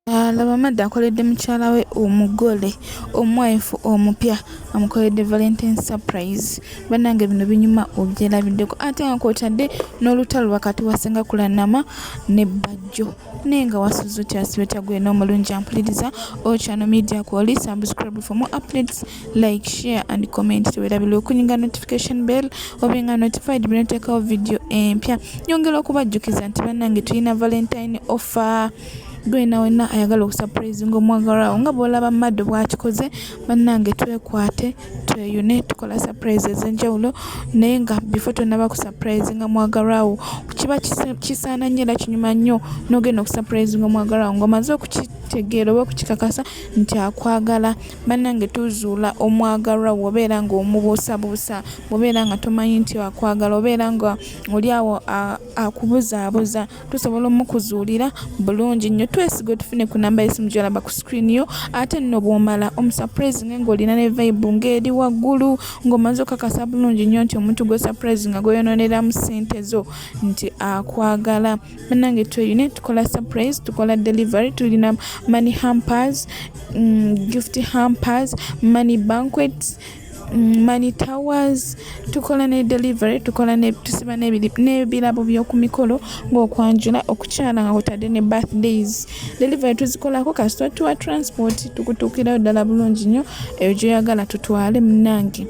Alaba Madda akoledde mukyala we omugole omwaifu omupya amukoledde Valentine surprise bannange bino binyuma obyerabiddeko ate nga kwotadde n'olutalo wakati wa Ssenga Kulanama ne Bajjo naye nga wasuze otya asibe otya gwena omulungi ampuliriza oyo channel media kwoli subscribe for more updates like share and comment tewerabirwa okunyiga notification bell obe nga notified binoteekawo vidiyo empya nyongera okubajjukiza nti bannange tulina Valentine offer Gwe na wenna ayagala okusapulezinga omwagalwawo nga bwolaba Mado bwakikoze banange twekwate tweyune tukola sapulezi ezenjawulo naye nga before tonaba kusapulezinga mwagalwawo kiba kisaana nnyo era kinyuma nnyo nogenda okusapulezinga omwagalwawo nga omaze okukitegeera oba okukikakasa nti akwagala banange tuzuula omwagalwa wobeera nga omubuusabuusa wobeera nga tomanyi nti akwagala obeera nga oli awo akubuzaabuza tusobola omukuzuulira bulungi nnyo twesiga otufune ku namba yesimu gyolaba ku screen yo ate nno bwomala omusuprise nge ngaolina ne vibe ngaeri waggulu ngaomaze okakasa bulungi nnyo nti omuntu gwe surprise nga gweyononeramu sente zo nti akwagala banange tweyune tukola surprise tukola delivery tulina money hampers mm, gift hampers money banquets Mm, money towers tukola ne delivery tukola ne tusiba ne ne bilabo byo ku mikolo ngo kwanjula okuchana nga kutade ne birthdays delivery tuzikola ko kasito tuwa transport tukutukira dala bulungi nyo ejo yagala tutwale mnangi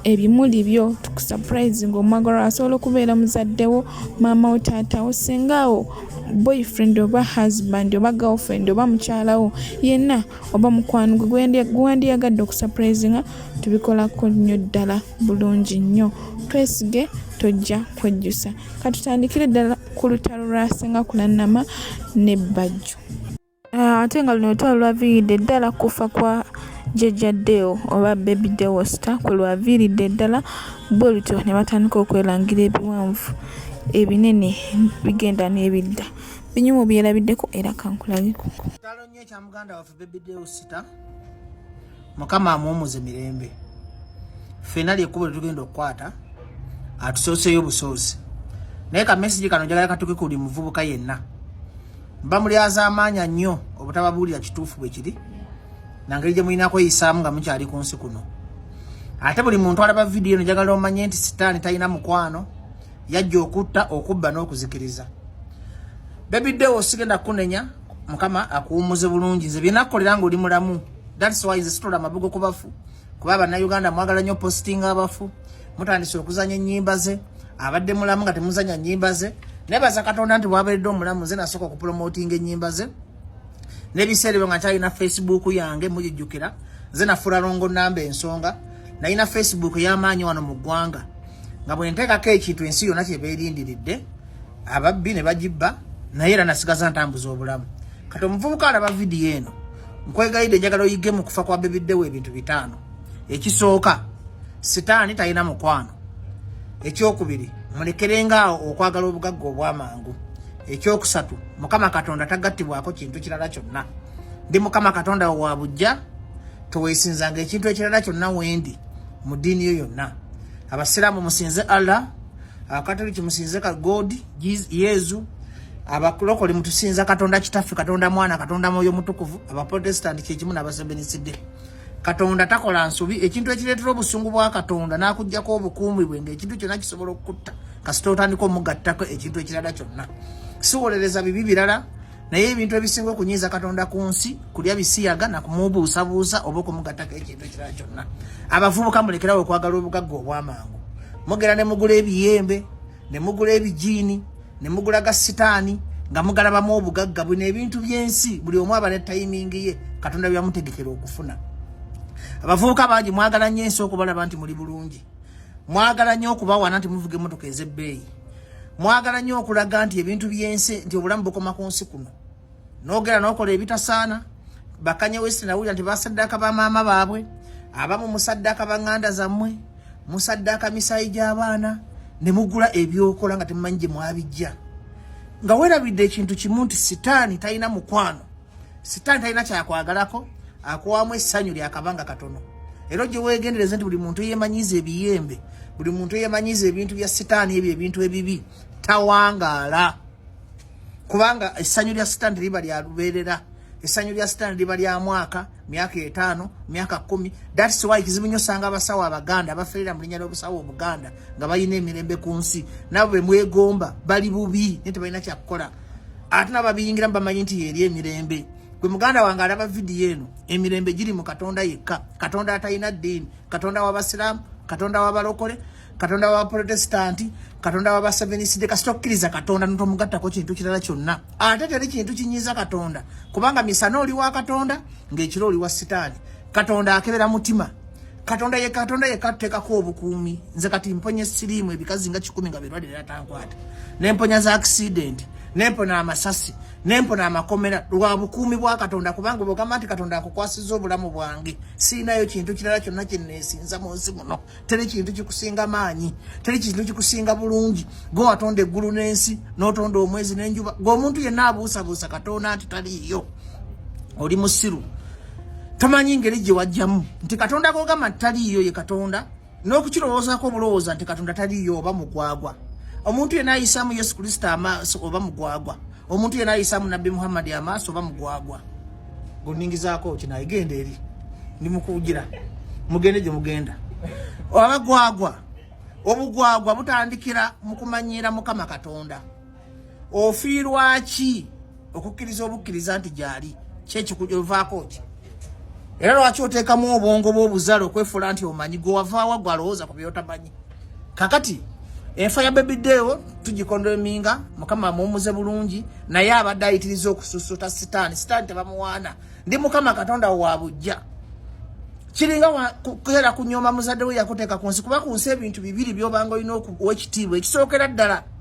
ebimuli byo tukusurprise ngo magoro asolo kubera muzaddewo mama otata osingawo boyfriend oba husband oba girlfriend oba muchalawo yena oba mukwano gwe gwewandiyagadde okusapurayizinga tubikolako nnyo ddala bulungi nnyo twesige tojja kwejjusa katutandikire ddala ku lutalo lwa singa kulanama ne bajjo ah, ate nga luno lutalo lwaviiridde ddala kufa kwa jjajja deo oba baby deosta kwe lwaviiridde ddala bwe lutyo ne batandika okwelangira ebiwanvu ebinene bigenda n'ebidda binyumu byerabiddeko era kankulageko kya muganda waffe baby deusita mukama amuwumuze mirembe ffena lyekkubo lyetugenda okukwata atusooseyo obusoosi naye kamesigi kano njagala katuke kuli muvubuka yenna bamulyaza amaanya nnyo obutababuulira kituufu bwe kiri nangeri gye mulina kweyisaamu nga mukyali ku nsi kuno ate buli muntu alaba vidiyo no njagala omanye nti sitaani talina mukwano yajja okutta okubba n'okuzikiriza bebi dewo sigenda kunenya mukama akuwumuze bulungi nze byena kukolera nga oli mulamu that's why nze situla amabugo ku bafu kuba bannayuganda mwagala nnyo postinga abafu mutandise okuzanya ennyimba ze abadde mulamu nga temuzanya nnyimba ze nebaza katonda nti bwaberedde omulamu nze nasooka okupromotinga ennyimba ze nebiseera ebyo nga nkyalina facebook yange mugijjukira nze nafuula longo namba ensonga nalina facebook eyamaanyi wano mu ggwanga nga bwenteekako ekintu ensi yonna kyebeerindiridde ababbi ne bagibba naye era nasigaza ntambuza obulamu kati omuvubuka alaba vidiyo eno nkwegayidde njagala oyige mu kufa kwa bebiddewo ebintu bitaano ekisooka sitaani talina mukwano ekyokubiri mulekerenga awo okwagala obugagga obwamangu ekyokusatu mukama katonda tagattibwako kintu kirala kyonna ndi mukama katonda wo wa bujja teweesinzanga ekintu ekirala kyonna wendi mu ddiini yo yonna abasiraamu musinze allah Abakatoliki musinze ka God, Yezu, abakulokole mutusinza Katonda Kitaffe, Katonda Mwana, Katonda Mwoyo Mutukuvu, Abaprotestanti kye kimu n'Abasebeniside. Katonda takola nsobi, ekintu ekireetera obusungu bwa Katonda n'akuggyako obukuumi bwe ng'ekintu kyonna kisobola okukutta kasita otandika omugattako ekintu ekirala kyonna. Siwolereza bibi birala. naye ebintu ebisinga okunyiiza katonda ku nsi kulya bisiyaga nakumubuusabuusa oba okumugattako ekintu ekirala kyonna abavubuka mulekerawo okwagala obugagga obwamangu mugera ne mugula ebiyembe ne mugula ebijiini ne mugula ga sitaani nga mugalabamu obugagga bwino ebintu by'ensi buli omu aba ne tayimingi ye katonda byamutegekera okufuna abavubuka bangi mwagala nnyo ensi okubalaba nti muli bulungi mwagala nnyo okubawana nti muvuga emmotoka ez'ebbeeyi mwagala nnyo okulaga nti ebintu by'ensi nti obulamu bukoma ku nsi kuno nogera nokola ebitasaana bakanye wesi nawulira nti basaddaka bamaama baabwe abamu musaddaka banganda zammwe musaddaka misayi gy'abaana ne mugula ebyokola nga temumanyi gye mwabijja nga werabidde ekintu kimu nti sitaani talina mukwano sitaani talina kyakwagalako akuwamu essanyu lyakabanga katono era ojje wegendereze nti buli muntu eyemanyiza ebiyembe buli muntu eyemanyiza ebintu bya sitaani ebyo ebintu ebibi tawangaala kubanga essanyu lya sitaani teriba lya lubeerera essanyu lya sitaani liba lya mwaka myaka etaano myaka kumi thats why kizibu nyo osanga abasawo abaganda abaferera mu linnya ly'obusawo obuganda nga balina emirembe ku nsi nabo bemwegomba bali bubi naye tebalina kyakukola ate nababiyingiramu bamanyi nti yeri emirembe gwe muganda wange alaba vidiyo eno emirembe giri mu katonda yekka katonda atalina ddiini katonda wabasiraamu katonda wabalokole katonda wabaprotestanti katonda wabaseveniside kasita okkiriza katonda notomugattako kintu kirala kyonna ate teri kintu kinyiiza katonda kubanga misana oli wa katonda ngaekiro oli wa sitaani katonda akebera mutima katonda ye katonda ye kateka ko obukuumi nze kati mponye sirimu ebikazi nga kikumi nga birwadde era tankwata ne mponya za accident ne mpona amasasi ne mpona amakomera lwa bukuumi bwa katonda kubanga bwogamba nti katonda akukwasiza obulamu bwange siinayo kintu kirala kyonna kyenneesinza mu nsi muno teri kintu kikusinga maanyi teri kintu kikusinga bulungi gwe watonda eggulu n'ensi n'otonda omwezi n'enjuba gwe omuntu yenna abuusabuusa katonda nti taliiyo oli musiru tamanyi ngeri gye wajjamu nti katonda gogamba taliiyo ye katonda n'okukirowoozako obulowooza nti katonda taliiyo oba mugwagwa omuntu yena ayisaamu yesu kristo amaaso oba mugwagwa omuntu yena ayisaamu nabbi muhammadi amaaso oba mugwagwa goningizaako kinayigenda eri ndi mukuwugira mugende gye mugenda abagwagwa obugwagwa butandikira mu kumanyiira mukama katonda ofiirwa ki okukkiriza obukkiriza nti gyali kyekikuvaako ki era lwaki oteekamu obwongo bwobuzale okwefuula nti omanyi gwe wavaawa gwe alowooza ku byotamanyi kakati enfa ya bebideewo tugikonda eminga mukama amuwumuze bulungi naye abadde ayitiriza okususuta sitaani sitaani tebamuwaana ndi mukama katonda wo wa bujja kiringa kukeera kunyooma muzadde we yakuteeka ku nsi kuba ku nsi ebintu bibiri byobanga olina oweekitiibwa ekisookera ddala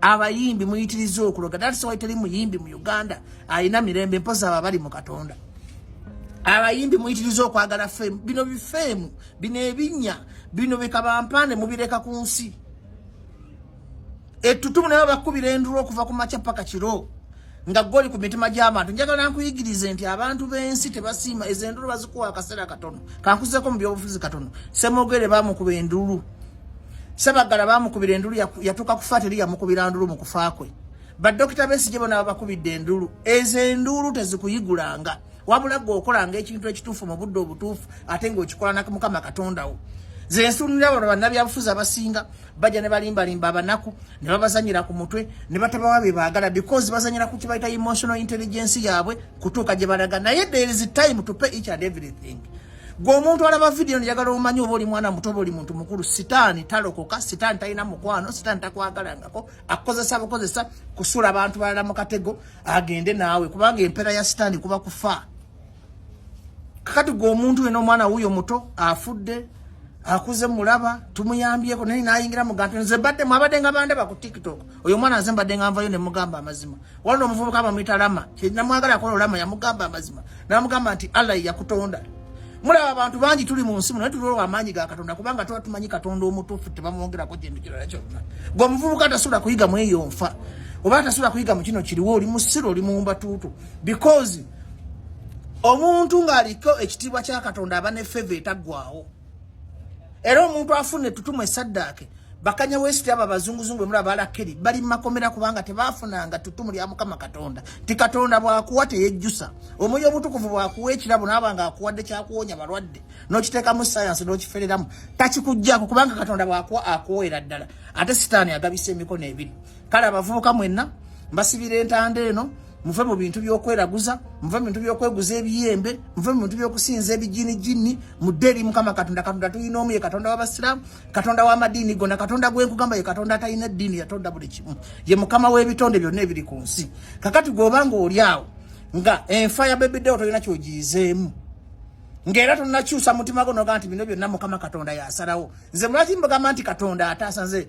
abayimbi muyitiriza okuloga that's why teri muyimbi mu Uganda alina mirembe mpoza aba bali mu Katonda abayimbi muyitiriza okwagala fame bino bifeemu bino ebinya bino bikabampane mubireka ku nsi ettutumu nayo bakubira endulu okuva ku makya paka kiro nga goli ku mitima gy'abantu njagala nkuyigirize nti abantu b'ensi tebasiima ezo endulu bazikuwa akaseera katono kankuzeko mu byobufuzi katono semogere bamukuba endulu sebagala bamukubira endulu yatuuka kufa teri yamukubira ndulu mu kufa kwe badokita besigye bona babakubidde endulu ezo endulu tezikuyigulanga wabula gwe okolanga ekintu ekituufu mu budde obutuufu ate ngaokikola nakumukama katondawo zensunira bano bannabyabufuzi abasinga bajja ne balimbalimba abanaku ne babazanyira ku mutwe ne batabawa bye baagala because bazanyira ku kibayita emotional intelligence yaabwe kutuuka gye balaga naye there is time to pay each and everything gwe omuntu alaba vidiyo njagala omanyi oba oli mwana muto oba oli muntu mukulu sitaani talokoka sitaani talina mukwano sitaani takwagalangako akukozesa bukozesa kusula abantu balala mu katego agende naawe kubanga empeera ya sitaani kuba kufa kakati gwe omuntu wena omwana wuyo muto afudde akuze mulaba tumuyambyeko naye nayingira mugantu nze badde mwabadde nga bandaba ku tiktok oyo omwana nze mbadde nga nvayo nemugamba amazima walina omuvubuka bamuyita lama namwagala akola olama yamugamba amazima namugamba nti allah yakutonda mulaba abantu bangi tuli mu nsi muno naye tuliwo amaanyi ga katonda kubanga tuba tumanyi katonda omutuufu tebamwongerako kintu kirala kyonna gwe omuvubuka tasobola kuyiga mweyo nfa oba tasobola kuyiga mu kino kiriwo oli musiru oli muwumbatuutu because omuntu ng'aliko ekitiibwa kya katonda aba ne feva etaggwawo era omuntu afuna ettutumu esaddaake bakanya wesiti abo abazunguzungu bemula balakeri bali mumakomera kubanga tebafunanga ttutumu lya mukama katonda ti katonda bwakuwa teyejjusa omwoyo obutukuvu bwakuwa ekirabo naaba nga akuwadde kyakuwonya balwadde nokiteekamu sayansi nokifereramu takikujjako kubanga katonda bwakuwa akuweera ddala ate sitaani agabisa emikono ebiri kale abavubuka mwenna mbasibira entanda eno muve mu bintu byokweraguza muve mu bintu byokweguza ebiyembe muve mu bintu byokusinza ebijini jini mudde eri mukama katonda katonda tulina omu ye katonda wabasiramu katonda wamadiini gona katonda gwenkugamba ye katonda atalina eddiini yatonda buli kimu ye mukama w'ebitonde byonna ebiri ku nsi kakati gweobanga oli awo nga enfa ya bebidewo tolina kyogiyizeemu ngaera tonakyusa mutima gwo nogaa nti bino byonna mukama katonda yasalawo nze mulwaki mbugamba nti katonda ataasa nze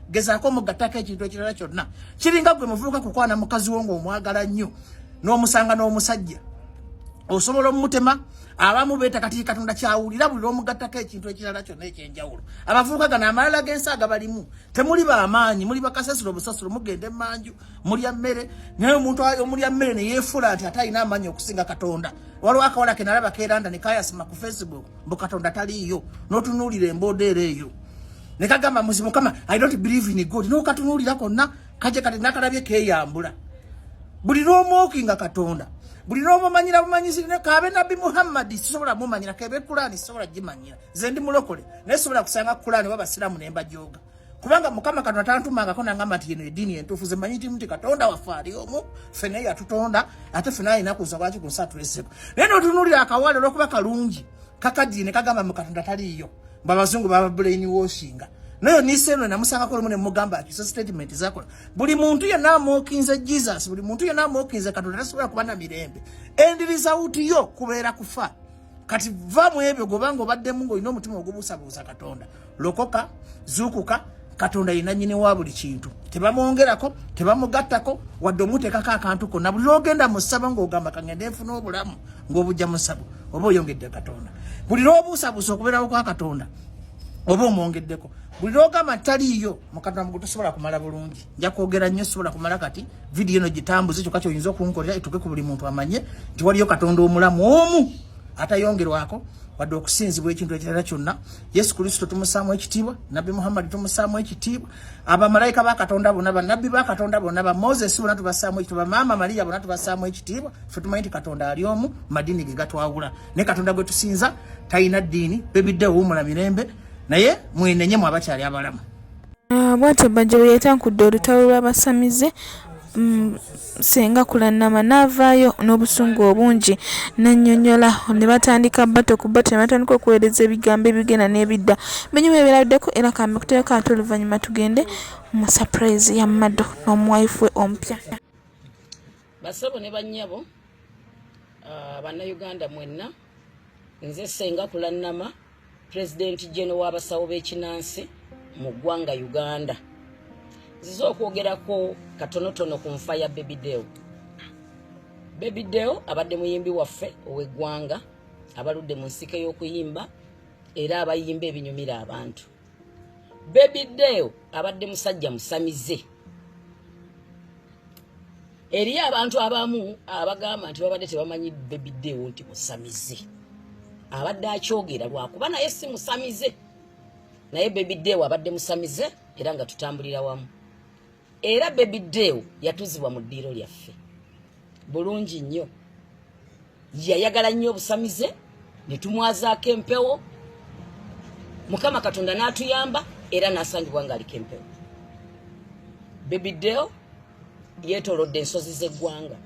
gezaako omugattako ekintu ekirala kyonna kiringa gwe muvubuka kukwana mukazi wo ng'omwagala nnyo n'omusanga n'omusajja osobola omumutema abamu beeta kati katonda kyawulira buli lwomugattako ekintu ekirala kyonna ekyenjawulo abavubuka gano amalala g'ensi agabalimu temuli bamaanyi muli bakasasiro obusasiro mugenda emanju mulya mmere naye omuntu omulya mmere neyefuula nti ate alina amaanyi okusinga katonda waliwo akawala kenalaba keranda nekayasima ku facebook mbu katonda taliiyo notunuulira embooda era eyo ne kagamba muzi mukama i don't believe in god no katunulira konna kaje kati nakalabye keyambula buli lwomoki nga katonda buli lwomumanyira bumanyisi kabe nabbi muhammadi sisobola mumanyira kebe kulani sisobola gimanyira ze ndi mulokole naye sisobola kusanga kulani oba basiraamu ne mbajoga kubanga mukama katonda tantumangako nangamba nti yeno ediini entuufu zemanyi nti nti katonda waffe ali omu ffe naye yatutonda ate ffe naye alina kuza lwaki kunsa tuleseko naye notunulira akawale olwokuba kalungi kakadini ne kagamba mu katonda taliiyo babazungu baba brain washinga nayo niseno namusanga ko mune mugamba ati statement zako buli muntu ya namokinze jesus buli muntu ya namokinze katonda tasubira kubana mirembe and result yo kubera kufa kati va mwebyo gobango badde mungo ino mutima ogubusa busa katonda lokoka zukuka katonda yenanyini wa buli kintu tebamwongerako tebamugattako wadde omuteekako akantu konna buli lwogenda mu ssabo ng'ogamba kangende nfuna obulamu ng'obujja mu ssabo oba oyongedde katonda buli lwobuusabuusa okubeerawo kwa katonda oba omwongeddeko buli lwogamba taliiyo mukatonda mugu tosobola kumala bulungi nja kwogera nnyo sobola kumala kati vidiyo eno gitambuze kyokka kyoyinza okunkolera etuuke ku buli muntu amanye nti waliyo katonda omulamu omu atayongerwako wadde okusinzibwa ekintu ekirala kyonna Yesu Kristo tumusaamu ekitiibwa, Nabbi Muhammad tumusaamu ekitiibwa, abamalaika ba Katonda bona, bannabbi ba Katonda bona, ba Moses bona tubasaamu ekitiibwa, maama Maria bona tubasaamu ekitiibwa. Ffe tumanyi nti Katonda ali omu, madiini ge gatwawula. Ne Katonda gwe tusinza talina ddiini, bebidde wuumula mirembe, naye mwenenye mu abakyali abalamu. Ah, bwatyo Bajjo bwe yatankudde olutalo lw'abasamize. Mm. Ssenga Kulannama n'avaayo n'obusungu obungi n'annyonnyola ne batandika bbato ku bbato ne batandika okuweereza ebigambo ebigenda n'ebidda binyuma ebiraddeko era kambe kuteeka ate oluvannyuma tugende mu surprise ya Mado n'omuwayifu we omupya. Basabo ne bannyabo ah, Bannayuganda mwenna. nze senga kulannama pulezidenti jeno w'abasawo b'ekinansi mu ggwanga uganda nziza okwogerako katonotono ku nfa ya bebideo bebideo abadde muyimbi waffe ow'eggwanga abaludde mu nsike y'okuyimba era abayimba ebinyumira abantu baby deo abadde musajja musamize eriyo abantu abamu abagamba nti babadde tebamanyi baby deo nti musamize abadde akyogera lwakuba naye si musamize naye baby deo abadde musamize era nga tutambulira wamu era baby dew yatuzibwa mu ddiiro lyaffe bulungi nnyo yayagala nnyo obusamize ne tumwazaako empewo mukama katonda n'atuyamba era n'asangibwa ng'aliko empewo baby dew yeetolodde ensozi z'eggwanga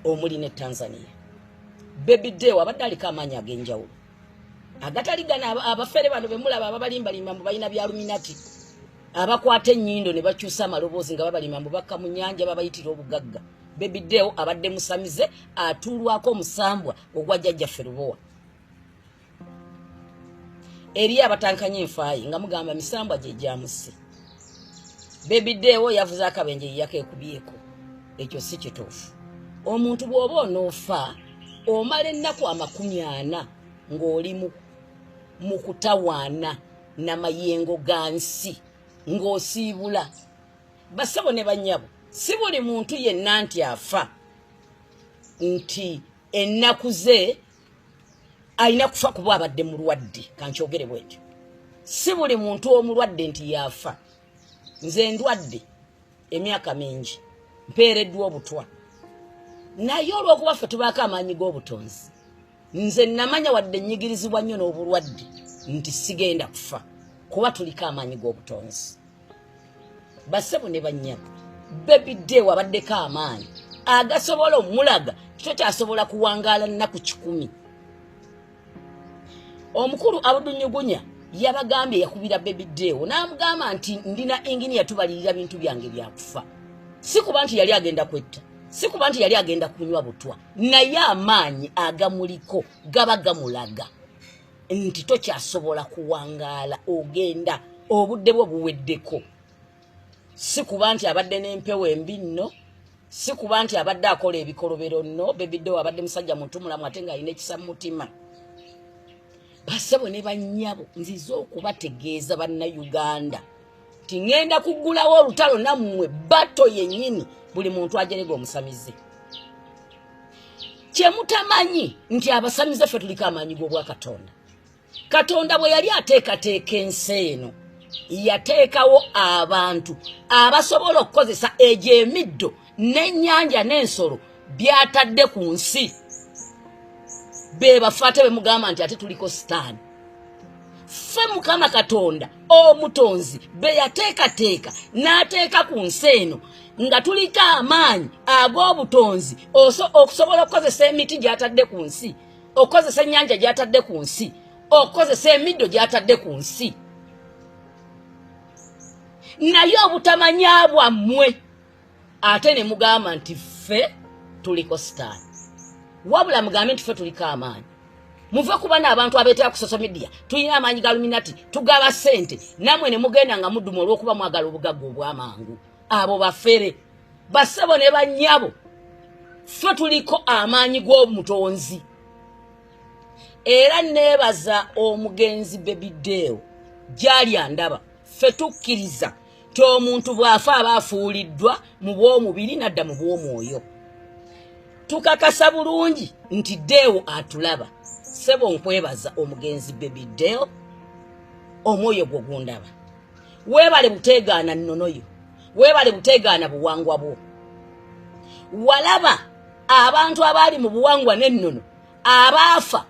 omuli ne tanzania baby dew abadde aliko amaanyi ag'enjawulo agatali gana abafere bano bemulaba ababalimbalimba mbu balina byaluminati abakwata ennyindo ne bakyusa amaloboozi nga babalima mu bakka mu nnyanja babayitira obugagga bebidewo abadde musamize atuulwako omusambwa ogwa jjajjaffe lubowa eri abatankanya enfaayi nga mugamba misambwa gye gyamusse bebidewo yavuze akabenje yeyakekubyeko ekyo si kituufu omuntu bw'oba onoofa omala ennaku amakumi ana ng'oli mu kutawaana namayengo gansi ng'osiibula basabo ne banyabo si buli muntu yenna nti afa nti ennaku ze alina kufa kuba abadde mulwadde kankyogere bwekyo si buli muntu omulwadde nti yaafa nze ndwadde emyaka mingi mpeereddwa obutwa naye olw'okuba ffe tubaako amaanyi g'obutonzi nze namanya wadde nyigirizibwa nnyo n'obulwadde nti sigenda kufa kuba tuliko amaanyi g'obutonzi basebo ne bannyabo bebi deewo abaddeko amaanyi agasobola omulaga kito kyasobola kuwangaala nnaku kikumi omukulu abudunyugunya yabagambye yakubira bebi deewo n'amugamba nti ndina inginiya tubalirira bintu byange byakufa si kuba nti yali agenda kwetta si kuba nti yali agenda kunywa butwa naye amaanyi agamuliko gaba gamulaga nti tokyasobola kuwangaala ogenda obudde bwo buweddeko si kuba nti abadde n'empewo embi nno si kuba nti abadde akola ebikolobero nno bebidde wabadde musajja mutumulamu ate ng'alina ekisa mu mutima basebo ne bannyabo nzize okubategeeza bannayuganda tingenda kugulawo olutalo nammwe bato yenyini buli muntu ajerega omusamize kyemutamanyi nti abasamize ffe tuliko amaanyi g'obwakatonda katonda bwe yali ateekateeka ensi eno yateekawo abantu abasobola okukozesa egyo emiddo e n'ennyanja n'ensolo byatadde ku nsi bebafa ate bemugamba nti ate tuliko sitaani ffe mukama katonda omutonzi beyateekateeka n'ateeka ku nsi eno nga tuliko amaanyi ag'obutonzi okusobola okukozesa emiti gyatadde ku nsi okukozesa ennyanja gyatadde ku nsi okukozesa emiddo gyatadde ku nsi naye obutamanya bwammwe ate ne mugamba nti ffe tuliko sitaani wabula mugambe nti ffe tuliko amaanyi muve kuba naabantu abeetera ku social media tulina amaanyi ga luminati tugaba ssente namwe ne mugenda nga muduma olw'okuba mwagala obugagga obw'amangu abo bafere basebo ne bannyabo ffe tuliko amaanyi g'omutonzi era neebaza omugenzi bebideewo gyali andaba ffe tukkiriza nti omuntu bw'afa aba afuuliddwa mu bw'omubiri n'adda mu bw'omwoyo tukakasa bulungi nti deewo atulaba sebo nkwebaza omugenzi bebi deo omwoyo gwo gundaba weebale buteegaana nnono yo weebale buteegaana buwangwa bwo walaba abantu abaali mu buwangwa n'ennono abaafa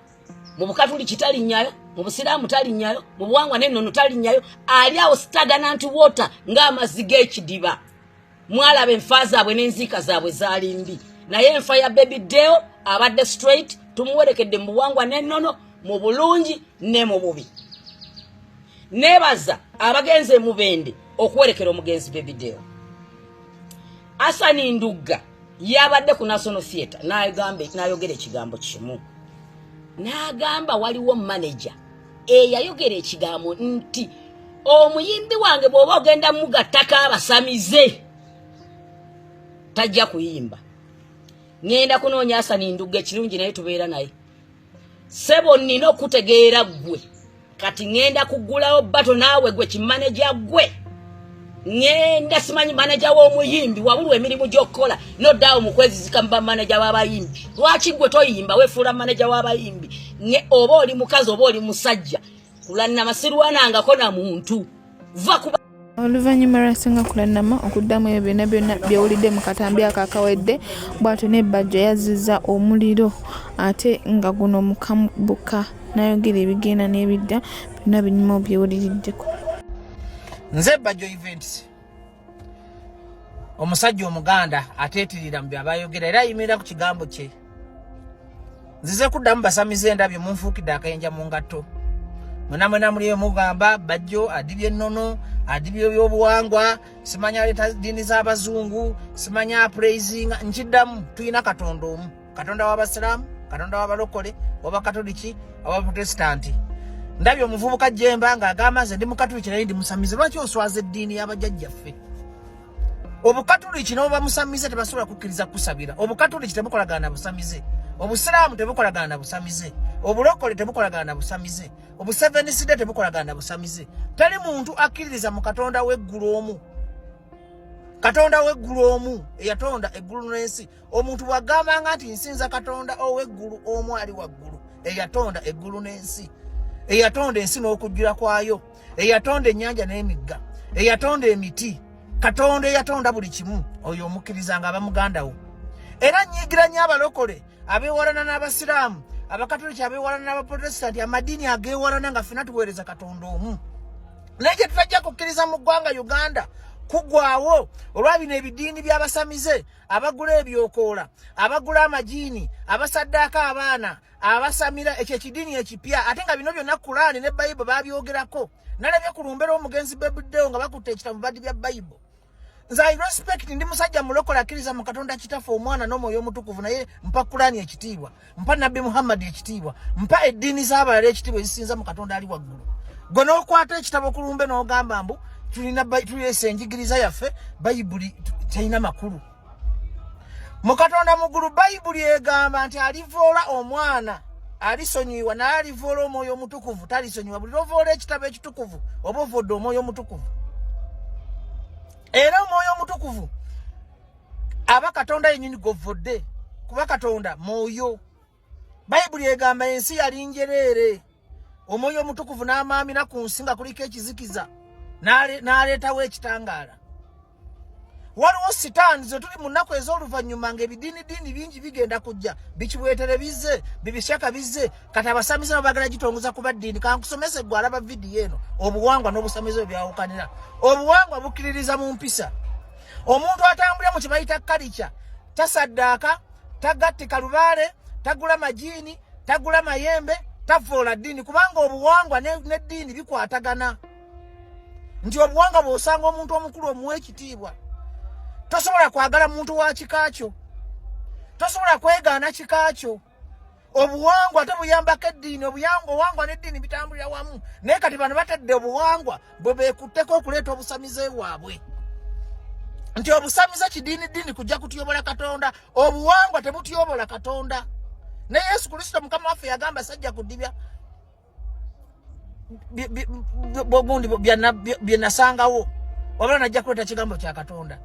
mu bukatuliki talinnyayo mu busiraamu talinnyayo mu buwangwa n'ennono talinnyayo ali awo staganant water ng'amazzi g'ekidiba mwalaba enfa zaabwe n'enziika zaabwe zaali mbi naye enfa ya bebi deo abadde straight tumuwerekedde mu buwangwa n'ennono mu bulungi ne mu bubi nebaza abagenze mubende okuwerekera omugenzi bebideo asani ndugga yabadde ku national theatre nayogera ekigambo kimu n'agamba waliwo maneja eyayogera ekigambo nti omuyimbi wange bw'oba ogenda mugattako abasamize tajja kuyimba ŋenda kunoonya asani ndugga ekirungi naye tubeera naye sebo nina okutegeera gwe kati ngenda kugulawo bato naawe gwe kimaneja gwe ngenda simanyi maneja w'omuyimbi wabulu emirimu gy'okukola noddaawo mu kwezizika mu bamaneja w'abayimbi lwaki gwe toyimba wefuula maneja w'abayimbi ne oba oli mukazi oba oli musajja kulanna masirwanangako na muntu va kuba Oluvannyuma lwa Ssenga Kulanama okuddamu ebyo byonna byonna byewulidde mu katambi ako akawedde bw'atyo ne Bajjo yazzizza omuliro ate nga guno mukabuka n'ayogera ebigenda n'ebidda byonna binyuma obyewuliriddeko. Nze Bajjo Events omusajja omuganda ateetirira mu byabayogera era ayimirira ku kigambo kye. nzize kuddamu basamize endabyo munfuukidde akayinja mu ngatto mwena mwena muliyo mugamba bajjo adibye ennono adibye ebyobuwangwa simanya aleeta ddiini z'abazungu simanya apuraisinga nkiddamu tulina katonda omu katonda w'abasiraamu katonda w'abalokole wabakatoliki abaprotestanti ndabye omuvubuka jemba ng'agamba nze ndi mukatoliki naye ndi musamize lwaki oswaza eddiini y'abajajjaffe obukatuliki nobamusamize tebasobola kukkiriza kukusabira obukatuliki tebukolagana na busamize obusiraamu tebukolagana na busamize obulokole tebukolagana na busamize obuseveniside tebukolagana na busamize tali muntu akkiririza mu katonda w'eggulu omu katonda w'eggulu omu eyatonda eggulu n'ensi omuntu bwagambanga nti nsinza katonda ow'eggulu omu ali waggulu eyatonda eggulu n'ensi eyatonda ensi n'okujjula kwayo eyatonda ennyanja n'emigga eyatonda emiti katonda eyatonda buli kimu oyo omukkiriza nga aba muganda wo era nyigira nnyo abalokole abeewalana n'abasiraamu abakatoliki abeewalana n'abaprotestanti amadiini ageewalana nga fena tuweereza katonda omu naye kye tutajja kukkiriza mu ggwanga uganda kugwawo olwa bino ebidiini by'abasamize abagula ebyokoola abagula amajiini abasaddaako abaana abasamira ekyo ekidiini ekipya ate nga bino byonna kulaani ne bayibo babyogerako nalabye ku lumbe lw'omugenzi bebuddewo nga bakutte ekita mu badi bya bayibo nze i respect ndi musajja mulokola akkiriza mu katonda kitaffe omwana n'omwoyo omutukuvu naye mpa kulaani ekitiibwa mpa nabbi muhammadi ekitiibwa mpa eddiini z'abalala ekitiibwa ezisinza mu katonda ali waggulu gwe n'okwata ekitabo ku lumbe n'ogamba mbu tulina tulesa enjigiriza yaffe bayibuli terina makulu mu katonda mugulu bayibuli egamba nti alivoola omwana alisonyiwa naye alivoola omwoyo omutukuvu talisonyiwa buli lovoola ekitabo ekitukuvu oba ovodde omwoyo omutukuvu era omwoyo omutukuvu aba katonda yenyini govodde kuba katonda mwoyo bayibuli egamba ensi yali njereere omwoyo omutukuvu n'amaamira ku nsi nga kuliko ekizikiza n'aleetawo ekitangaala waliwo sitaani ze tuli mu nnaku ez'oluvannyuma ng'ebidiinidiini bingi bigenda kujja bikiweetere bizze bibisyaka bizze kati abasamize no bagala gitongoza kuba ddiini kankusomese gwe alaba vidiyo eno obuwangwa n'obusamize bwe byawukanira obuwangwa bukkiririza mu mpisa omuntu atambulira mu kye bayita kalica tasaddaaka tagattika lubaale tagula majiini tagula mayembe tavvoola ddiini kubanga obuwangwa n'eddiini bikwatagana nti obuwangwa bw'osanga omuntu omukulu omuwa ekitiibwa tosobola kwagala muntu wa kika kyo tosobola kwegaana kika kyo obuwangwa ate buyambako eddiini obuyangwa owangwa n'eddiini bitambulira wamu naye kati bano batadde obuwangwa bwe beekutteko okuleeta obusamize waabwe nti obusamize kidiini ddiini kujja kutyobola katonda obuwangwa tebutyobola katonda ne yesu kristo mukama waffe yagamba sajja kudibya bogundi byenasangawo wabula najja kuleta kigambo kya katonda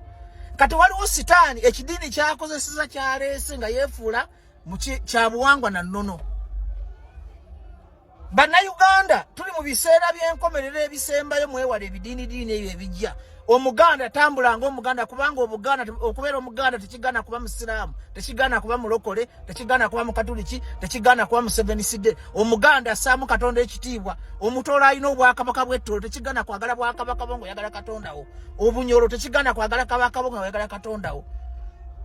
kati waliwo sitaani ekidiini kyakozeseza kyaleese nga yefuula kyabuwangwa na nono bannayuganda tuli mu biseera by'enkomerero ebisembayo mwewala ebidiinidiini ebyo ebijja omuganda tambula nga omuganda kubanga obuganda okubeera omuganda tekigana kuba musiraamu tekigana kuba mulokole tekigana kuba mukatuliki tekigana kuba museveniside omuganda assaamu katonda ekitiibwa omutoola alina obwakabaka bwettolo tekigana kwagala bwakabaka bo ngaoyagala katondawo obunyolo tekigana kwagala kabaka bo ngaoyagala katondawo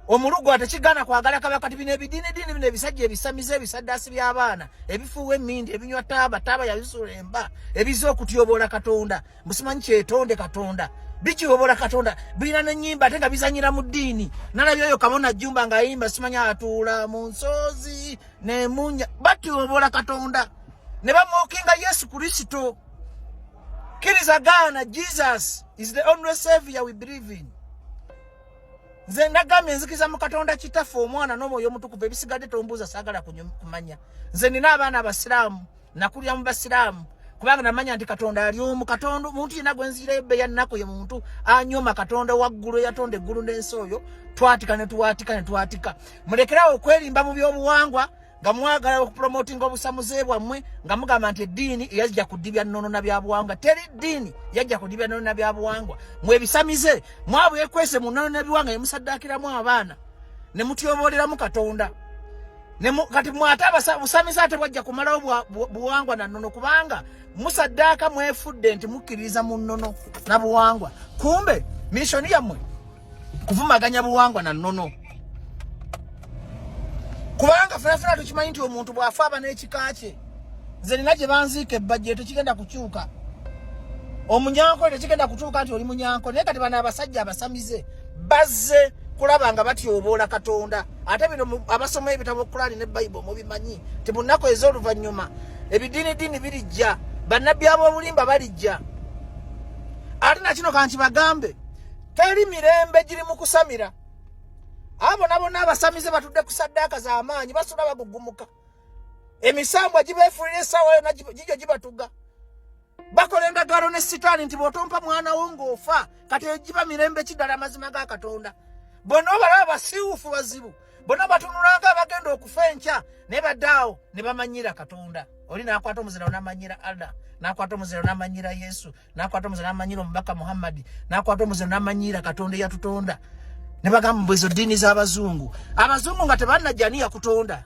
omulugwa tekigana kwagala kabaka ti bino ebidiinidiini bino ebisajja ebisamize ebisaddaasi by'abaana ebifuuwa emmindi ebinywa taaba taaba yabisuula emba ebiza okutyoboola katonda musimanyi kyetonde katonda bikiwobola katonda birina nenyimba ate nga bizanyira mu ddiini nalabye oyo kabona jumba nga ayimba simanyi atuula mu nsoozi nemunya batiwobola katonda ne bamwokinga yesu kristo kiriza gaana jesus is the only savior we believe in nze ndagambye nzikiza mu katonda kitaffe omwana n'omwoyo omutukuvu ebisigadde tombuuza saagala kumanya nze nina abaana abasiraamu nakulira mu basiraamu kubanga namanya nti katonda ali omu katonda omuntu yena gwenziirayo bbe yannaku ye muntu anyoma katonda waggulu eyatonda eggulu n'ensi oyo twatika ne tuwatika ne twatika mulekerawo okwerimba mu byobuwangwa nga mwagala okupromotinga obusamuze bwammwe nga mugamba nti eddiini eyajja kudibya nnono na byabuwangwa teri ddiini yajja kudibya nnono na byabuwangwa mwebisamize mwabwekwese mu nnono na biwanga yemusaddaakiramu abaana ne mutyobooleramu katonda kati mwate abusamize ate bwajja kumalawo buwangwa na nnono kubanga musaddaaka mwefudde nti mukkiririza mu nnono na buwangwa kumbe mishoni yammwe kuvumaganya buwangwa na nnono kubanga fenafena tukimanyi nti omuntu bw'afa aba n'ekika kye nze nina gye banziika ebbajje tekigenda kukyuka omunyanko tekigenda kutuuka nti oli munyanko naye kati bana abasajja abasamize bazze kulaba nga batyoboola katonda ate bino abasoma ebitabo kulaani ne bayibo mubimanyi ti mu nnaku ez'oluvannyuma ebidiinidiini birijja bannabbi ab'obulimba balijja ate nakino kanti bagambe teri mirembe giri mu kusamira abo nabona abasamize batudde ku saddaaka z'amaanyi basula bagugumuka emisambwa gibeefulira essaawa yona gigyo gibatuga bakola endagaano ne sitaani nti bw'otompa mwana wo ng'ofa kati egiba mirembe kiddala amazima ga katonda bona obalaba basiiwufu bazibu bona batunulanga abagenda okufa enkya naye baddaawo ne bamanyira katonda oli n'akwata omuzirawo n'amanyira allah n'akwata omuzirawo n'amanyira yesu n'akwata omuzirawo n'amanyira omubaka muhammadi n'akwata omuzirawo n'amanyira katonda eyatutonda ne bagamba mbwezo ddiini z'abazungu abazungu nga tebanajjaniya kutonda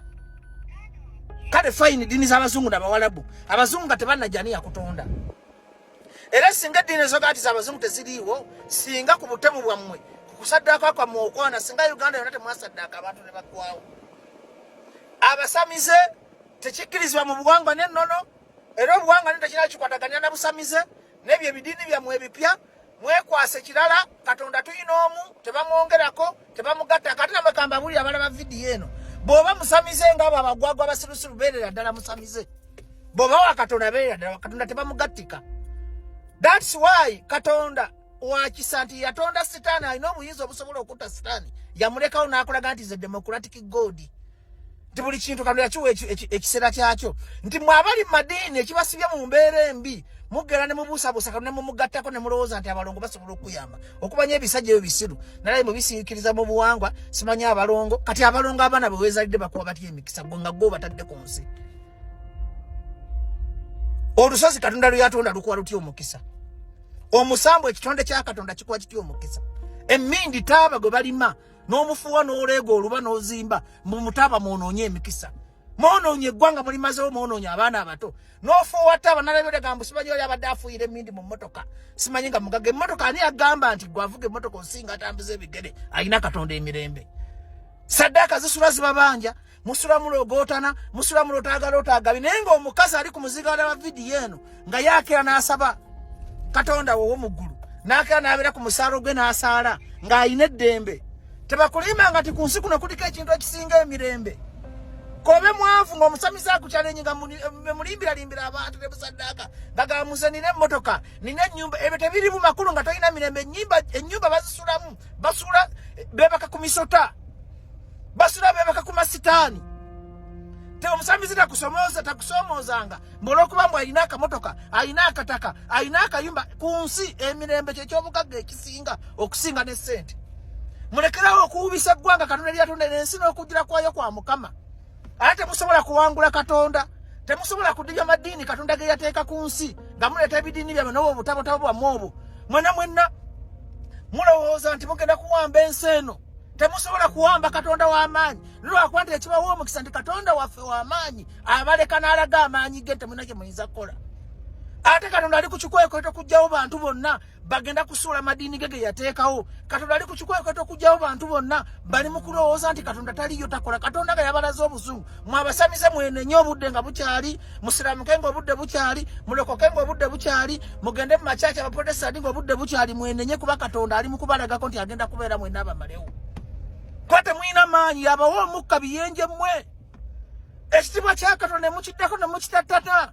kale fayini ddiini z'abazungu nabawalabu abazungu nga tebannajani yakutonda era singa eddiini ezoga nti z'abazungu teziriiwo singa ku butemu bwammwe ku kusaddaaka kwammwe okwana singa uganda yonna temwasaddaaka abantu ne baggwawo abasamize tekikkirizibwa mu buwangwa n'ennono era obuwangwa ne tekirala kikwataganira na busamize n'ebyo ebidiini byammwe ebipya mwekwase kirala katonda tuyina omu tebamwongerako tebamugatta kati namwe kamba buli abalaba vidiyo eno bwoba musamize nga abo abagwagwa abasirusiru beerera ddala musamize bwoba wa katonda beerera ddala katonda tebamugattika thats why katonda wakisa nti yatonda sitaani alina obuyinza obusobola okutta sitaani yamulekawo n'akulaga nti ze democratic god nti buli kintu kano yakiwa ekiseera kyakyo nti mwe abali mu madiini ekibasibye mu mbeera embi mugera ne mubuusabuusa kano ne mumugattako ne mulowooza nti abalongo basobola okukuyamba okumanya ebisajja ebyo bisiru nalaye mubisiikiriza mu buwangwa simanya abalongo kati abalongo abaana bwe weezalidde bakuba batya emikisa gwe nga gwe obatadde ku nsi olusozi katonda lweyatonda lukuwa lutya omukisa omusambu ekitonde kya katonda kikuwa kitya omukisa emmindi taaba gwe balima n'omufuwa n'oleega oluba n'ozimba mbu mutaaba mwonoonye emikisa mwonoonye eggwanga mulimazewo mwonoonye abaana abato n'ofuwa taaba nalabirega mbu simanyi oli abadde afuuyira emindi mu mmotoka simanyi nga mugaga emmotoka ani agamba nti gwe avuga emmotoka osinga atambuza ebigere alina katonda emirembe saddaaka zisula zibabanja musula mulogootana musula mulotaagala otaagabi naye ng'omukazi ali ku muzigaala wa vidiyo eno nga yaakera n'asaba katonda wowo mu ggulu n'akera n'abeera ku musaalo gwe n'asaala ng'alina eddembe tebakulimba nga ti ku nsi kuno kuliko ekintu ekisinga emirembe kobe mwavu ng'omusamize akukyalenyi nga mulimbiralimbira abantu ne busaddaaka ngagaba muze nina emmotoka nina ennyumba ebyo tebirimu makulu nga tolina mirembe ennyumba bazisulamu basula bebaka ku misota basula bebaka ku masitaani te omusamize takusomooza takusoomoozanga mbolwokuba mbu alina akamotoka alina akataka alina akayumba ku nsi emirembe kyekyobugagga ekisinga okusinga ne ssente mulekerawo okuwubisa eggwanga katonda lyatonda nensi n'okugira kwayo kwa mukama ate temusobola kuwangula katonda temusobola kudibya madiini katonda ge yateeka ku nsi nga muleeta ebidiini byamwe nobo obutabotabo bwamwe obwo mwena mwena mulowooza nti mugenda kuwamba ensi eno temusobola kuwamba katonda w'amaanyi nolwakuba nti ekibawa omukisa nti katonda waffe w'amaanyi abaleka n'alaga amaanyi ge temulina kye muyinza kukola ate katonda ali ku kikwekweto okugyawo bantu bonna bagenda kusuula madiini ge ge yateekawo katonda ali ku kikwekweto okugyawo bantu bonna bali mu kulowooza nti katonda taliyo takola katonda nga yabalaze obuzungu mwabasamize mwenenye obudde nga bukyali musiramuke nga obudde bukyali mulokoke nga obudde bukyali mugende mu makyaki abaprotestandi nga obudde bukyali mwenenye kuba katonda ali mukubalagako nti agenda kubeera mwena abamalewo kuba temulina maanyi yabawa omukka biyenje mmwe ekitibwa kyakatonda nemukiddako nemukitattata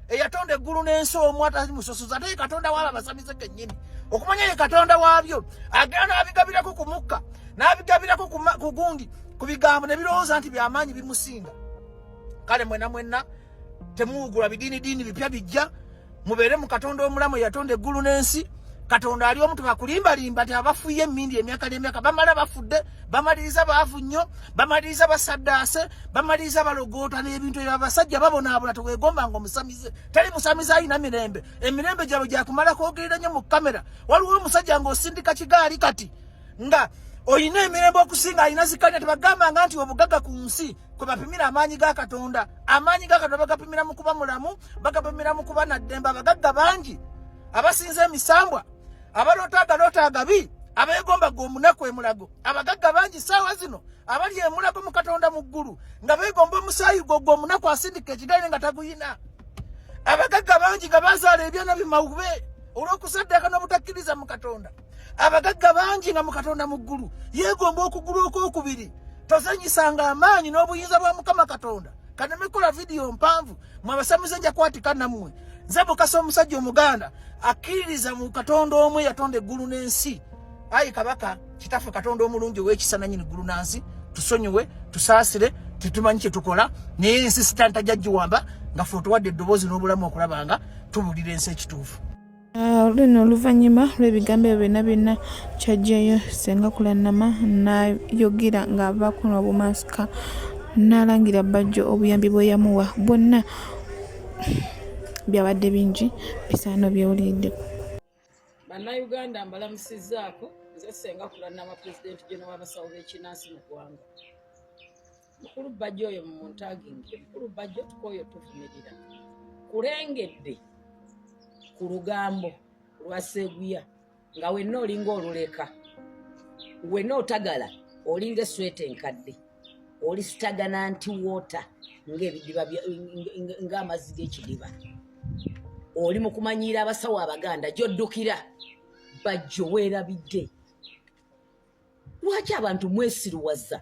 eyatonda eggulu n'ensi omu atali musosozi ate ye katonda waabo abasamize kennyini okumanya ye katonda waabyo agenda n'abigabirako ku mukka n'abigabirako ku gundi ku bigambo ne birowooza nti byamaanyi bimusinga kale mwena mwena temuwugula bidiinidiini bipya bijja mubeere mu katonda omulamu eyatonda eggulu n'ensi katonda ali omu tebakulimbalimba ti abafuye emindi emyaka nemyaka bamala bafudde bamaliriza baavu nnyo bamaliriza basaddaase bamaliriza balogoota n'ebintu ebyo abasajja babonaabona tewegombanga omusamize tali musamize alina mirembe emirembe gyabwe gyakumala kwogerera nnyo mu kamera waliwo omusajja ng'osindika kigaali kati nga olina emirembe okusinga alina zikanya tebagambanga nti obugaga ku nsi kwe bapimira amaanyi ga katonda amaanyi ga katonda bagapimira mu kuba mulamu bagapimira mu kuba naddembe abagagga bangi abasinza emisambwa abaloota agaloota agabi abeegombaga omunaku emulago abagagga bangi ssaawa zino abali emulago mu katonda mu ggulu nga beegomba omusaayi gwo gwo omunaku asindika ekigaire nga taguyina abagagga bangi nga bazaala ebyana bimawube olw'okusaddaaka n'obutakkiriza mu katonda abagagga bangi nga mu katonda mu ggulu yeegomba okugulu okwokubiri tozanyisanga amaanyi n'obuyinza bwa mukama katonda kaneme kola vidiyo mpanvu mwe abasamize nja kwatika nammwe nze mukasa omusajja omuganda akkiririza mu katonda omu eyatonda eggulu n'ensi ayi kabaka kitaffe katonda omulungi ow'ekisa nanyini ggulu na nsi tusonyiwe tusaasire tetumanyi kye tukola naye ensi sitantajja giwamba nga fe otuwadde eddoboozi n'obulamu okulaba nga tubulira ensi ekituufu Ah, luno oluvannyuma lw'ebigambo ebyo byonna byonna kyajjayo senga kulannama n'ayogera ng'ava kuno obumansika n'alangira bajjo obuyambi bwe yamuwa bwonna byabadde bingi bisaano byewulidde bannayuganda mbalamusizzaako nze senga kulannama pulezidenti geno w'abasawo b'ekinansi mu ggwanga mukulu bajja oyo mumuntaginge mukulu bajja tukoyo tuvumirira kulengedde ku lugambo lwa seguya nga wenna olinga oluleka wenna otagala olinga esweta enkadde oli sitagana nti wota ngaebidiba ngaamazzi g'ekidiba oli mu kumanyiira abasawo abaganda gyoddukira bajjo weerabidde lwaki abantu mwesiruwaza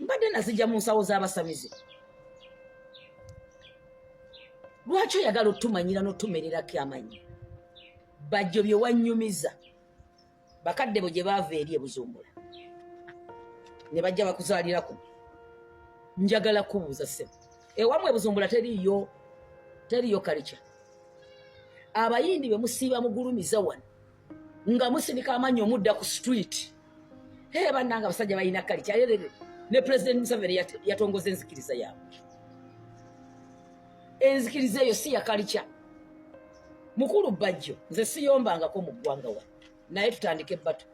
mbadde nazijja mu nsawo z'abasamize lwaki oyagala otumanyira n'otumererako amanyi bajjo bye wanyumiza bakadde bo gye baava eri ebuzumbula ne bajja bakuzaalirako njagala kubuuza se ewamu ebuzumbula teriyo teriyo kalikya abayindi be musiiba mugulumiza wano nga musinika amanyi omudda ku street hey, bannanga abasajja balina kali kyayerere ne president museveni yatongoza enzikiriza yaabwe enzikiriza eyo si yakalikya mukulu bajjo nze siyombangako mu ggwanga wa naye tutandike ebbatu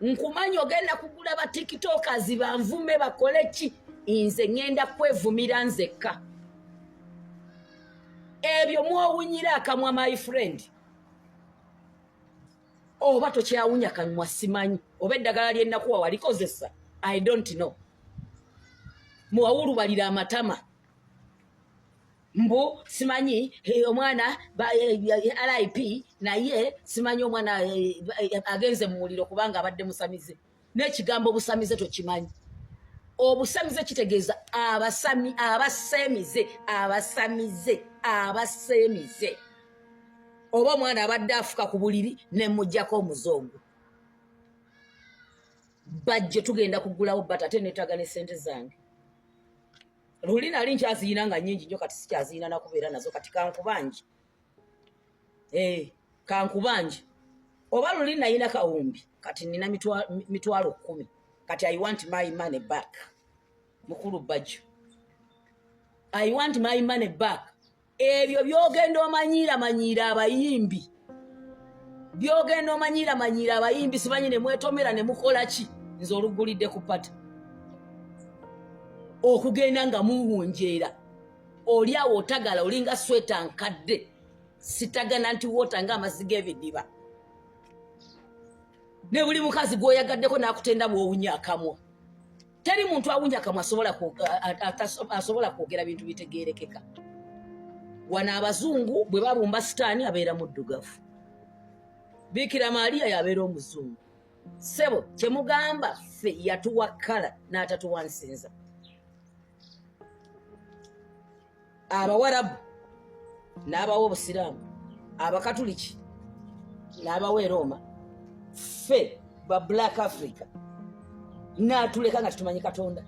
nkumanyi ogenda kugula ba tiktokers banvume bakole ki nze ŋenda kwevumira nzekka ebyo mwowunyira akamwa my friend oba tokyawunya kanywa simanyi oba eddagala lyenakuwa walikozesa i don't know muwawulubalira amatama mbu simanyi eh, omwana eh, eh, lip naye simanyi omwana agenze mu muliro kubanga abadde musamize n'ekigambo obusamize tokimanyi obusamize kitegeeza abasami abasemize abasamize abasemize oba omwana abadde afuka ku buliri ne mujjako omuzungu bajje tugenda kugulawo bat ate netaga ne sente zange luli nali nkyaziyina nga nyingi nyo kati sikyaziyina nakubeera nazo kati kankubangi eh, kankubanje oba luli nayina kawumbi kati nina mitwalo kumi kati i want my money back mukulu bajjo i want my money back ebyo byogenda omanyiira manyiira abayimbi byogenda omanyiira manyiira abayimbi sibanyi nemwetomera nemukola ki nze olugulidde ku pata okugenda nga muwunjeera oli awo otagala olinga sweta nkadde sitagana nti wota nga amazzi g'ebidiba ne buli mukazi gw'oyagaddeko n'akutenda bw'owunya akamwa teri muntu awunya kamwa asobola kwogera bintu bitegeerekeka wano abazungu bwe babumba sitaani abeera muddugavu biikira maaliya yabeera omuzungu sebo kyemugamba ffe yatuwa kala n'atatuwa nsinza abawarabu n'abawa obusiraamu abakatuliki n'abawa erooma ffe ba black africa naatuleka nga tetumanyi katonda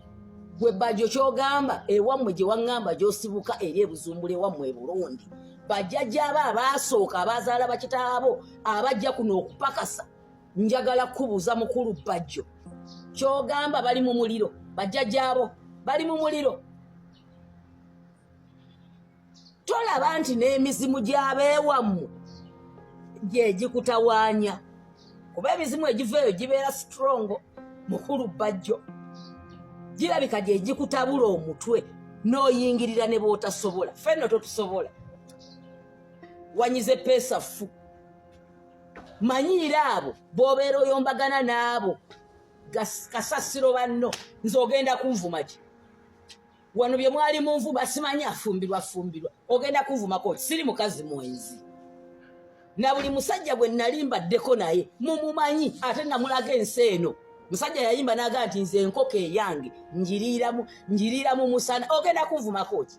gwe bajo kyogamba ewammwe gye waŋŋamba gyosibuka eri ebuzumbula ewammwe eburundi bajjajjaabo abaasooka abazaala bakitaabo abajja kuno okupakasa njagala kubuuza mukulu bajjo kyogamba bali mu muliro bajjajaabo bali mu muliro tolaba nti n'emizimu gyabeewammwe gyegikutawaanya kuba emizimu egiva eyo gibeera sitrongo mukulu bajjo girabika gyegikutabula omutwe n'oyingirira ne bootasobola fenno totusobola wanyize peesa ffu manyiira abo bwobeera oyombagana n'abo kasasiro banno nze ogenda kunvuma ki wano bye mwali mu nvuma simanyi afumbirwa fumbirwa ogenda kunvumako siri mukazi mwenzi na buli musajja gwe nali mbaddeko naye mumumanyi ate namulaga ensi eno musajja yayimba naga nti nze enkoko eyange njiriira mu musana ogenda kunvumako ki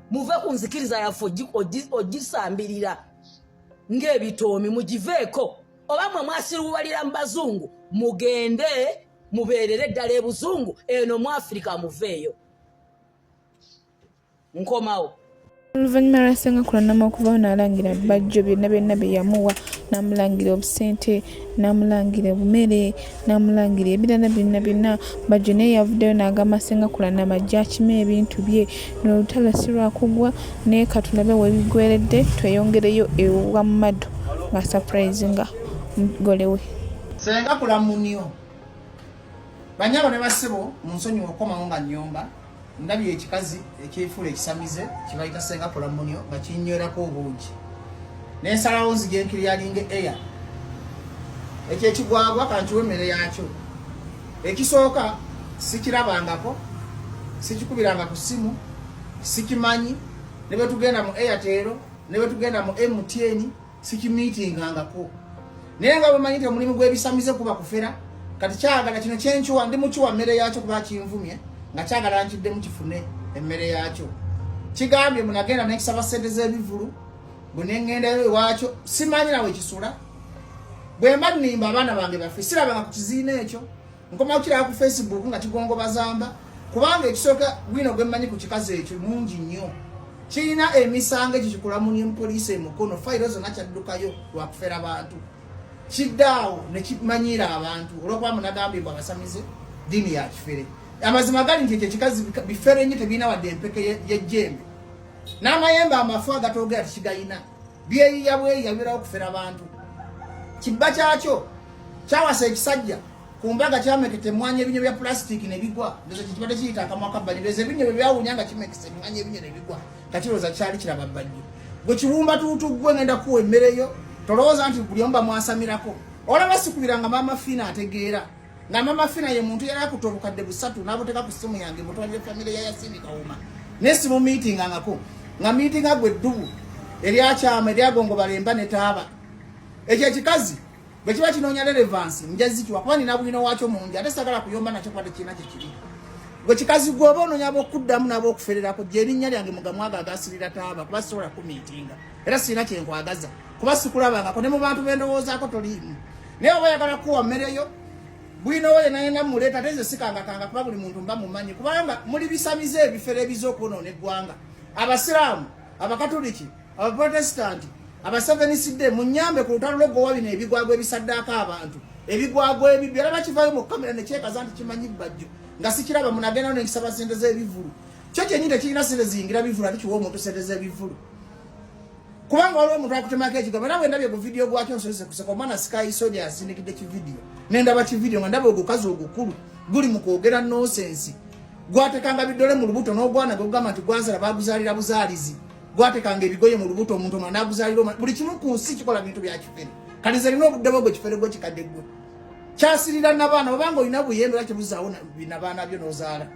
muve ku nzikiriza yaffe ogisambirira ng'ebitoomi mugiveeko oba mwe mwasiruwalira mu bazungu mugende mubeerere ddala ebuzungu eno mu afirika muveeyo nkomawo oluvannyuma lwa senga kulanama okuvawo n'alangira bajjo byonna byonna bye yamuwa n'amulangira obusente namulangira obumere namulangira ebirala byonna byonna bajjo naye yavuddeyo n'agamba sengakula namajja akima ebintu bye nolutalo si lwakugwa naye katulabe webigweredde tweyongereyo ewa mumado nga surprise nga mugole we sengakula munio banyabo ne basibo munsonyiwa okukomawo nga nyomba ndabye ekikazi ekyefuula ekisamize kibayita senga kulamunyo nga kinywerako obungi nensalawo nzija enkiri yalinga eya ekyo ekigwagwa kankiwa emmere yakyo ekisooka sikirabangako sikikubiranga ku ssimu sikimanyi ne bwe tugenda mu airtel ne bwe tugenda mu mtn sikimitingangako naye nga bamanyi nti omulimu gwebisamize kuba kufera kati kyagala kino kyenkiwa ndi mukiwa mmere yakyo kuba kinvumye nga kyagala nkiddemu kifune emmere yakyo kigambye munagenda nekisaba sente zebivulu bwenengendayo ewakyo simanyi nawe kisula bwemba nimba abaana bange bafe sirabanga ku kiziina ekyo nkomawo kiraba ku facebook nga kigongo bazamba kubanga ekisooka wino gwemmanyi ku kikazi ekyo mungi nnyo kirina emisango ekyo kikulamunie mupoliisi emukono fayiro zonna kyaddukayo lwakufera bantu kiddaawo nekimanyiira abantu olwokuba munagambye mbu abasamize diini ya kifere amazima gali nti ekyo ekikazi bifere nnyo tebirina wadde empeke yejjembe n'amayembe amafu agatoogera tikigayina ya byeyiya bweyiya birawo kufera bantu kibba kyakyo kyawasa ekisajja ku mbaga kyamekete emwanya ebinyo bya pulasitiki nebigwa ndoza kibadde kiyita akamwa kabbali ndoza ebinyo bye byawunya nga kimekese emwanya ebinyo nebigwa nga kiroza kyali kiraba bbali gwe kiwumba tuutu gwe ngenda kuwa emmereyo tolowooza nti buli omu bamwasamirako olaba sikubira nga maama fiina ategeera nga mama fina ye muntu yali akuta obukadde busatu n'abuteeka ku ssimu yange mutwalire famire ya yasini kawuma naye simumiitingangako nga miitinga gwe eddubu eryakyama eryagongobala emba ne taaba ekyo ekikazi bwe kiba kinoonya relevansi njazikiwa kuba nina bwino wakyo mungi ate sagala kuyomba nakyo kwade kirina kye kiri gwe kikazi gwe oba onoonya ab'okuddamu n'ab'okufererako gyerinnya lyange mugamwaga agasirira taaba kuba sisobola kumiitinga era sirina kyenkwagaza kuba sikulabangako ne mu bantu bendowoozaako toliimu naye oba oyagala kuwa mmere yo bwinowoye nayena muleeta ate nze sikangakanga kuba buli muntu mba mumanyi kubanga muli bisamize ebifere ebiza okwonoona eggwanga abasiraamu abakatuliki abaprotestanti abaseveniside munyambe ku lutalo lwogowa bino ebigwagwa ebisaddaako abantu ebigwagwa ebibyo era bakivayo mu kamera nekyekaza nti kimanyi bajjo nga sikiraba munagendawo nenkisaba sente z'ebivulu kyo kyenyi tekirina sente ziyingira bivulu ati kiwa omuntu sente z'ebivulu kubanga waliwo omuntu akutemako ekigambo era bwendabye ku vidiyo gwakyo nsose kuseka omwana sikayisoni asindikidde kividiyo nendaba kividiyo nga ndaba ogukazi ogukulu guli mu kwogera nonsensi gwatekanga bidole mu lubuto n'ogwana gwegugamba nti gwazala baguzalira buzaalizi gwatekanga ebigoye mu lubuto omuntu omwana naguzalira omwana buli kimu ku nsi kikola bintu bya kifere kati nze lina obudde bwegwe kifere gwe kikadde gwe kyasirira nabaana obanga olina buyembe era kibuzaawo binabaana byo nozaala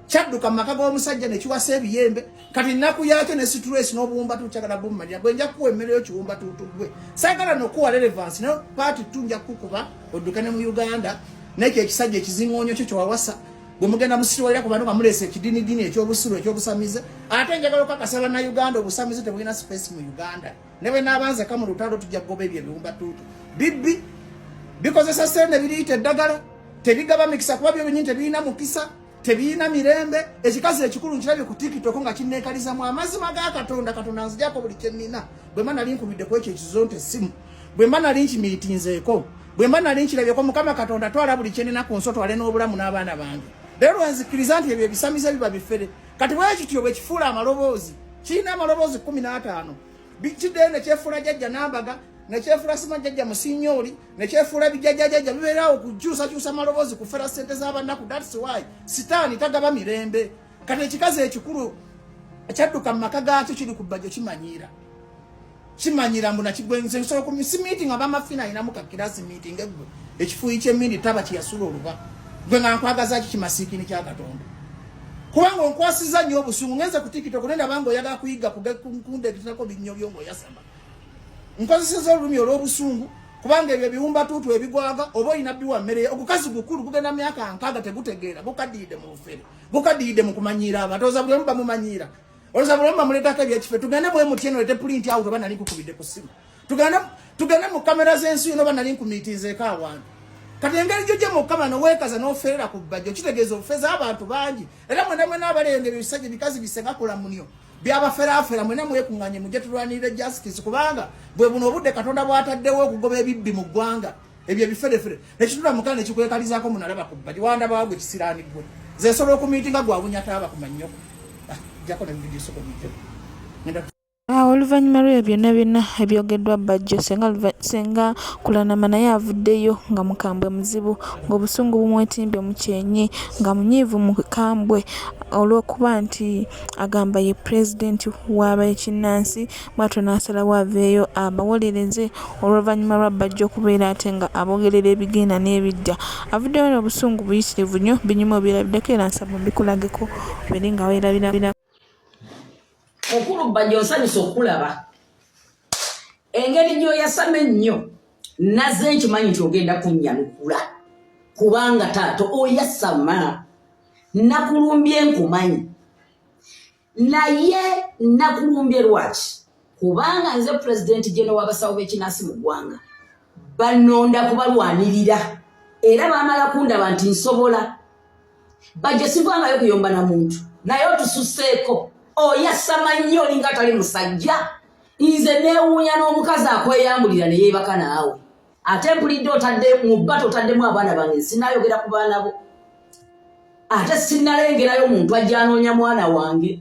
kyadduka mu maka g'omusajja ne kiwasa ebiyembe kati nnaku yaakyo ne situlesi n'obuwumbatu kyagala bummalira gwe nja kukuwa emmere yo kiwumbatuutu gwe saagala nokuwa relevansi nayo paati tu nja kukukuba odduke ne mu uganda nekyo ekisajja ekizingoonyo kyo kyewawasa gwe mugenda musitwalira ku bantu nga muleesa ekidinidini ekyobusiru ekyobusamize ate njagala okakasa bannauganda obusamize tebulina space mu uganda ne bwe naaba nzeka mu lutalo tujja kugoba ebyo ebiwumbatuutu bibbi bikozesa sente biriyita eddagala tebigaba mikisa kuba byo binyini tebirina mukisa tebirina mirembe ekikazi ekikulu nkirabye ku tikitoko nga kinneekaliza mu amazima ga katonda katonda nzijako buli kyennina bwe mba nali nkubidde ku ekyo ekizo nti essimu bwe mba nali nkimiitinzeeko bwe mba nali nkirabyeko mukama katonda twala buli kyennina ku nsi otwale n'obulamu n'abaana bange leero nzikiriza nti ebyo ebisamize biba bifere kati bwekityo bwekifuula amaloboozi kirina amaloboozi kumi n'ataano kiddeyo nekyefuula jajja nambaga nekyefuula sima jajja musinyoli nekyefuula bijajajaja bibeerawo kukyusakyusa maloboozi kufera sente z'abannaku thats why sitaani tagaba mirembe kati ekikazi ekikulu ekyadduka mu maka gaakyo kiri ku bbajo kimanyiira kimanyira mbu nakigwengise nsobola ku misi meeting abamafina alinamu kakirasi meeting egwe ekifuuyi kyemindi taba kyeyasula oluba gwe nga nkwagaza ki kimasiikini kya katonda kubanga onkwasiza nnyo obusungu ngenze ku tiktok naye nabanga oyagala kuyiga kundegeterako binnyo byo ngaoyasama nkozeseza olulumi olw'obusungu kubanga ebyo ebiwumbatuutu ebigwaga oba olina biwa mmere ogukazi gukulu gugenda myaka nkaaga tegutegeera gukadiyidde mu bufere gukadiyidde mu kumanyiira abantu oza buli omu bamumanyiira Oza bulamba muleta ka bya kife tugane mwe mutye no lete print out bana linku kubide ku simu. Tugane tugane mu camera zensu no bana linku mitinze ka wantu. Kati engeri joje mu kama no wekaza no ferera ku bajo kitegezo ofeza abantu bangi. Era mwe namwe nabale ende bisaje bikazi bisenga kula munyo. Bya bafera afera mwe namwe kunganye muje tulwanire justice kubanga bwe buno obudde katonda bwataddewo okugoba ebibbi mu gwanga. ebyo ebiferefere nekitula mukana nekikwekalizako munalaba kubbaji wandaba wagwe kisirani gwe zesobola okumitinga gwabunya taaba kumanyoko ah, jako nebividio soko bijo ah, oluvannyuma lwebyo byonna byonna ebyogeddwa bajjo senga kulanama naye avuddeyo nga mukambwe muzibu ng'obusungu bumwetimbye mu kyenyi nga munyiivu mukambwe olw'okuba nti agamba ye pulezidenti w'abekinnansi bwatyo n'asalawo aveeyo abawolereze oluvannyuma lwa bajja okubeera ate nga abogerera ebigenda n'ebijja avuddeyo n'obusungu buyitirivu nnyo binyuma obyerabiddeko era nsaba mbikulageko obere nga werabirabira mukulu bajja onsanyusa okukulaba engeri gy'oyasama ennyo naze nkimanyi nti ogenda kunnyanukula kubanga taata oyasama nakulumbye nkumanyi naye nakulumbye lwaki kubanga nze pulezidenti jeno w'abasawo b'ekinansi mu ggwanga banonda kubalwanirira era bamala kundaba nti nsobola bajja sivangayo kuyomba na muntu naye otususeeko oyasama nnyo olinga atali musajja nze newuunya n'omukazi akweyambulira ne yeebaka naawe ate mpulidde otadde mu bba totaddemu abaana bange sinayogera ku baana bo ate sinalengerayo muntu ajjanoonya mwana wange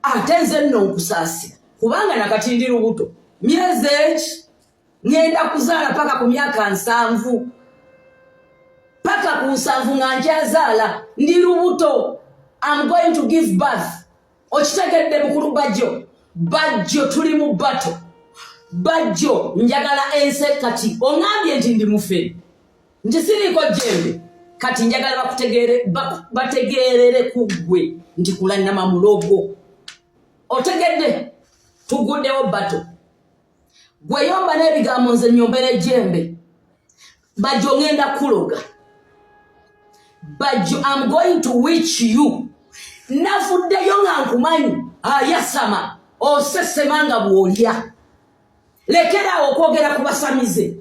ate nze nno nkusaasira kubanga nakati ndi lubuto myezi eki ngenda kuzaala paka ku myaka nsanvu paka ku nsanvu nga nkyazaala ndi lubuto am going to give birth okitegedde mukulu bajjo bajjo tuli mu bato bajjo njagala ense kati ongambye nti ndi mufere nti siriiko jembe kati njagala bakutegeere bategeerere ku ggwe nti kulannama mulogo otegedde tuguddewo bato gweyomba n'ebigambo nze nyombera ejembe bajjo ngenda kuloga bajjo am going to wich you navuddeyo nga nkumanyi ayasama ah, osesema nga bwolya lekeraawo okwogera ku basamize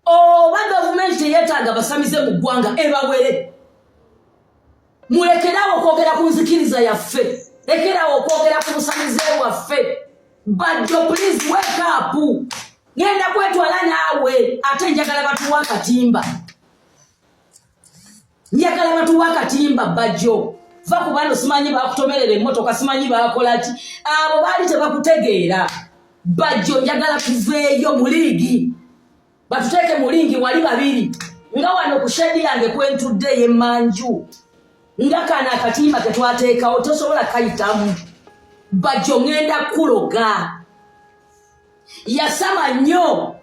oba gavumenti teyetaaga basamize mu ggwanga ebawere mulekerawo okwogera ku nzikiriza yaffe lekerawo okwogera ku busamize bwaffe bajjo please wake up ngenda kwetwala naawe ate njagala batuwa akatimba njagala batuwa akatimba bajjo va ku bano simanyi bakutomerera emmotoka simanyi bakolaki abo baali tebakutegeera bajjo njagala tuveeyo mu liigi batuteeke mu lingi wali babiri nga wano ku shedi yange kwentudde yemanju nga kana akatimba ketwateekawo tosobola kayitamu bajjo ngenda kuloga yasama nnyo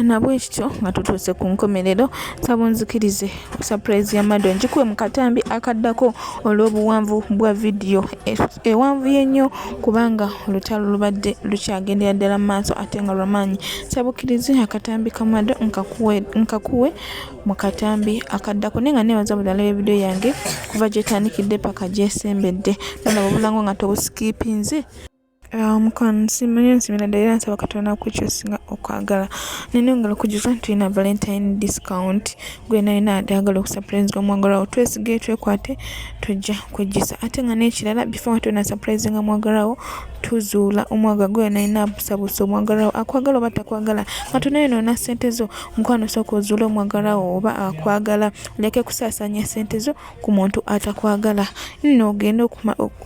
nabwekityo nga tutuuse ku nkomerero sabunzikirize Surprise ya Mado njikuwe mu katambi akaddako olw'obuwanvu bwa vidiyo e, ewanvuye nnyo kubanga olutalo lubadde lukyagendera ddala mu maaso ate nga lwamaanyi. Sabukirize akatambi ka Mado nkakuwe mu katambi akaddako naye nga neebaza buli alaba vidiyo yange kuva gyetandikidde paka gyesembedde nolaba obulango nga tobusikiipinze. Ah, mukwano nsimanyi nsimira ddala era nsaba katonda kukyo singa okwagala nina engalo kujuza nti tulina valentine discount gwena yina ayagala okusuprise nga mwagalawo twesige twekwate tujja kwejjisa ate nga n'ekirala before wati wena suprise nga mwagalawo tuzuula omwaga gwena yina abusabusa omwagalawo akwagala oba takwagala katonda yona ona sente zo mukwano sooka ozuula omwagalawo oba akwagala oleke kusaasanya sente zo ku muntu atakwagala nno ogende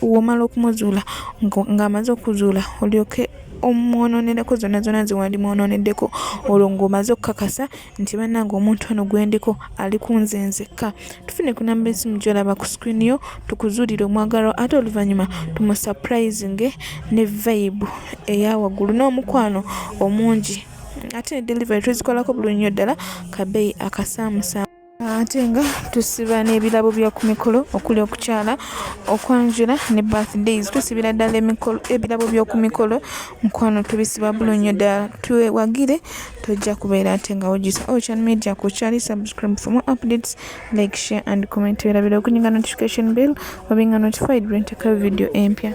womala okumuzuula ng'amaze okuzuula olyoke omwononereko zonna zonna zewandi mwononeddeko olwo ng'omaze okukakasa nti bannange omuntu ono gwendiko ali ku nze nzekka tufune ku namba esimu gyolaba ku screen yo tukuzuulire omwagalwa ate oluvannyuma tumusapulizinge ne vayibu eya waggulu n'omukwano omungi ate ne delivery tuzikolako buli nnyo ddala kabeeyi akasaamusaamu ate nga tusiba n'ebirabo bya ku mikolo okuli okukyala okwanjula ne birthdays tusibira ddala ebirabo by'oku mikolo mukwano tubisiba bulo nnyo ddala twewagire tojja kubeera ate nga wojisa ocean media ku kyali subscribe for more updates like share and comment werabira okunyiga notification bill obinga notified lwenteekayo video empya